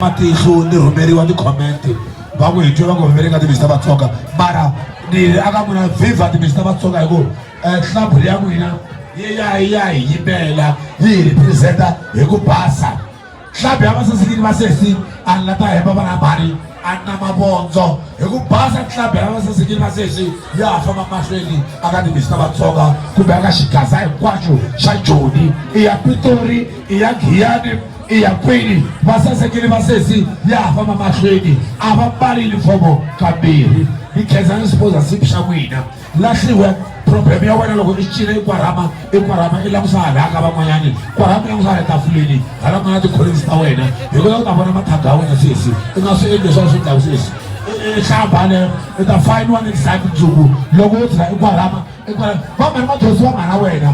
matihlo ni rhumeriwa ti-comment va ku hi twe va ku vevele ka timixi ta vatsonga mara ni ri aka n'wina viva timixi ta vatsonga hi ku eh, hlabhu ya n'wina yi ya yi ya hi yimela yi hi representa hi ku basa hlabhu ya vasasikini va sesi a ni la ta hemba vana bari a ni na mavondzo hi ku basa hlabhu ya vasasikini va sesi ya ha famba mahlweni aka timixi ta vatsonga kumbe aka xigaza hinkwaxo xa joni i ya pitori i ya giyani i ya kwini vasasekeli va sesi ya ha famba mahlweni a va mbali yunifomo kambirhi mi khensa ni sipoza sipi xa n'wina lahliwe problem ya wena loko i cina i kwarhama i kwarhama i langusa hala ka van'wanyani kwarhama i langusa hala tafuleni hala ku nga na tikholisi ta wena hi kota ku ta vona mathaga ya wena sesi i nga swi endli leswaku swi ndlaku sesi hlamba le i ta fayiniwa ni nsati nsuku loko u tlhela i kwarhama i kwarhama va mhani mathonsi va mhana wena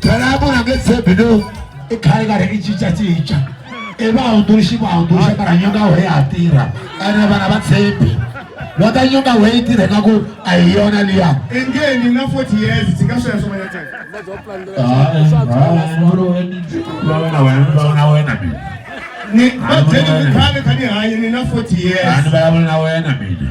Tarabu na getse bido ikhale ka re ichicha chicha e ba hunduruxi ku hunduruxa mara nyonga we ya tirha ene vana va tshembi va ta nyonga we yi tirheka ku a hi yona liya engeni na 40 years ndzi nga sweswo vana tani na wena mina ni va byele ku khale kha ni hanye ni na 40 years a ni vulavula na wena mina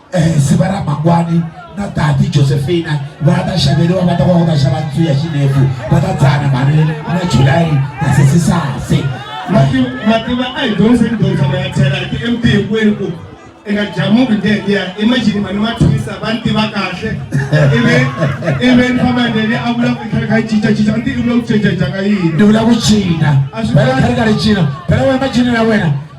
eh, siva ra mangwani na tati josephina va ta xaveriwa va ta va va ta xava ntsu ya xinefu va ta dzana mhani na july na sesisase mativa a hi dyondzisa ni dyondzisama ya tlhela ti mt hinkwenu ku eka jamuku ndeliya imagine mani ma twisa va ni tiva kahle ivi ivi ni famba ndeli a vula ku khale kha yi cinca cinca ni ti i vula ku cinca cinca ka yini ni vula ku cina a swi khale kha ri cina phela wena macini ya wena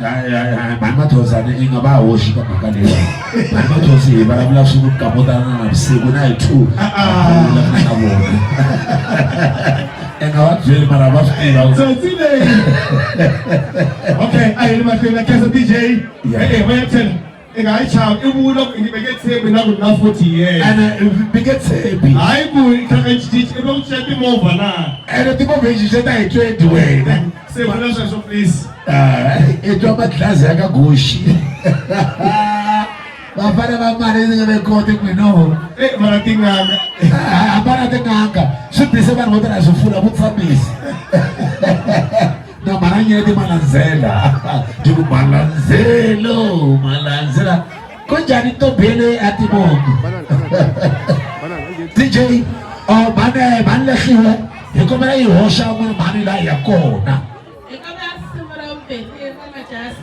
mhani mathozane i nga va hoxi ka mhaka leyi mhani mathozi hi vulavula swi ku kapotana na vusiku na hi two ah, ah. vulavula na vona enga va byeli mara va swi tiva tsotsi leyi okay a hi ri mahlweni na khensa dj e-e va ya tshela i nga yi chava i vula ku nyime nge tshembi na ku na forty years ene mi nge tshembi hayi ku i tlhaka i cinca i va ku cinca timovha na ene timovha yi cinca ta hi twenty wena se vula sweswo please ah, i twa madlazi ya ka goxi vafana va mali ndzi nga ve koti n'winoho e mara tinganga hambana ah, tinganga swi bise vanhu vo tala swi fula vutshambisi na maranyeti malandzela tiku malandzelo malandzela ko njhani to bele a timoki dj oh, mane mani lahliwe hi kombela yi hoxa n'wana mhani laha ya kona